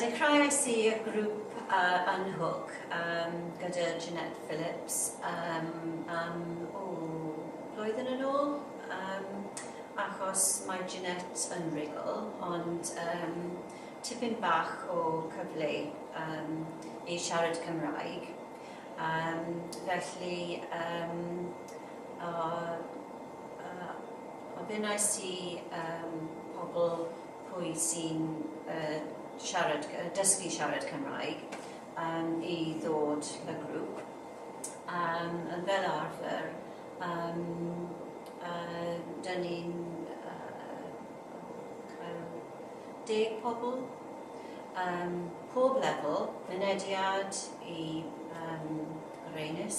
Dechreuais i grŵp yn Hook gyda Jeanette Phillips am, o, blwyddyn yn ôl, achos mae Jeanette yn real, ond tipyn bach o cyfle i siarad Cymraeg, felly ofynnais i pobl pwy sy'n siarad, dysgu siarad Cymraeg i ddod y grŵp, fel arfer dyn ni'n cael deg pobl, pob lefel, mynediad i reynys.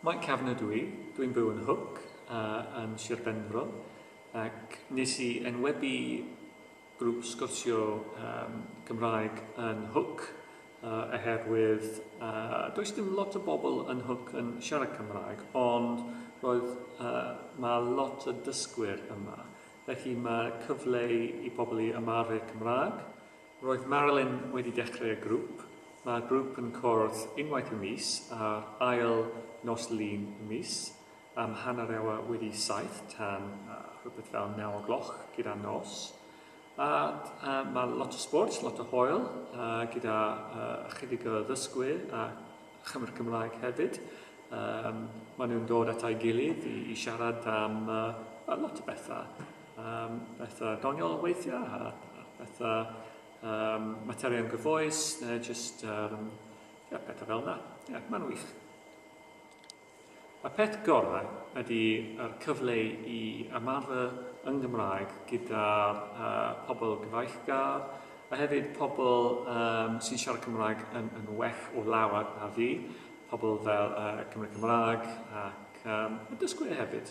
Mike Kavanagh ydw i, dw i'n byw yn Hook a yn Sir Benfro ac nes i enwebu grŵp sgwrsio um, Cymraeg yn Hook uh, oherwydd uh, does dim lot o bobl yn Hook yn siarad Cymraeg ond roedd uh, mae lot o dysgwyr yma felly mae cyfle i pobl i ymarfer Cymraeg Roedd Marilyn wedi dechrau y grŵp. Mae'r grŵp yn cwrdd unwaith y mis ar ail nos Lun y mis am hanner awr wedi saith tan rhywbeth fel naw o gloch gyda nos. A mae lot o sport, lot o hoel gyda chydig o ddysgwyr a chymryd Cymraeg hefyd. Mae nhw'n dod at ei gilydd i siarad am lot o bethau. um, bethau doniol weithiau a, a bethau um, materion gyfoes neu jyst um, yeah, pethau fel yna. Yeah, mae'n wych. Y peth gorau ydy yr cyfle i ymarfer yng Nghymraeg gyda'r uh, pobl gyfeillgar a hefyd pobl um, sy'n siarad Cymraeg yn, yn well o lawer na fi, pobl fel uh, Cymru Cymraeg ac um, y dysgwyr hefyd.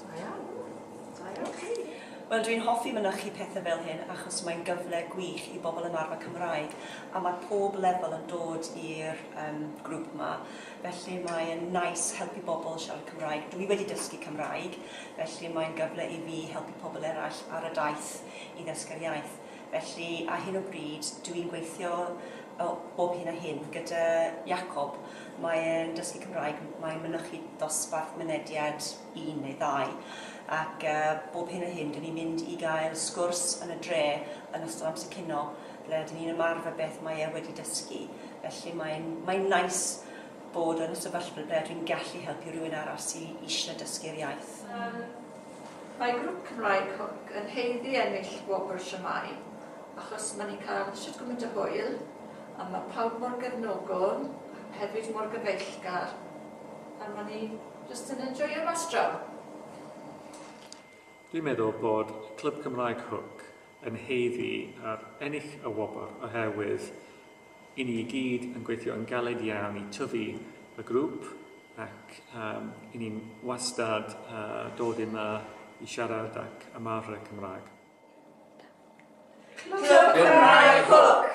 Da iawn. Da iawn. Oce. Wel, dwi'n hoffi mynychu pethe fel hyn achos mae'n gyfle gwych i bobl ymarfer Cymraeg a mae pob lefel yn dod i'r um, grŵp yma. Felly mae yn nice helpu bobl siarad Cymraeg. Dwi wedi dysgu Cymraeg, felly mae'n gyfle i fi helpu pobl eraill ar y daith i ddysgu'r iaith. Felly, ar hyn o bryd, dw i'n gweithio bob hyn a hyn gyda Jakob. Mae e'n dysgu Cymraeg, mae'n mynychu dosbarth mynediad un neu ddau, ac bob hyn a hyn, dw ni'n mynd i gael sgwrs yn y dre yn ystod amser cinio, ble dw ni'n ymarfer beth mae e wedi dysgu. Felly, mae'n mae'n neis bod yn y sefyllfa ble dw i'n gallu helpu rhywun arall sydd eisiau dysgu'r iaith. Mae grŵp Cymraeg Hook yn haeddu ennill gwobr Siamai achos ma ni'n cael shwt gymaint o hwyl a ma pawb mor gefnogol ac hefyd mor gyfeillgar a ma ni jyst yn enjoio mas draw. Dwi'n meddwl bod Clwb Cymraeg Hook yn haeddu ar ennill y wobr oherwydd I ni i gyd yn gweithio yn galed iawn i tyfu y grŵp ac um, i ni'n wastad uh, dod yma i siarad ac ymarfer Cymraeg. Clwb Cymraeg Hook!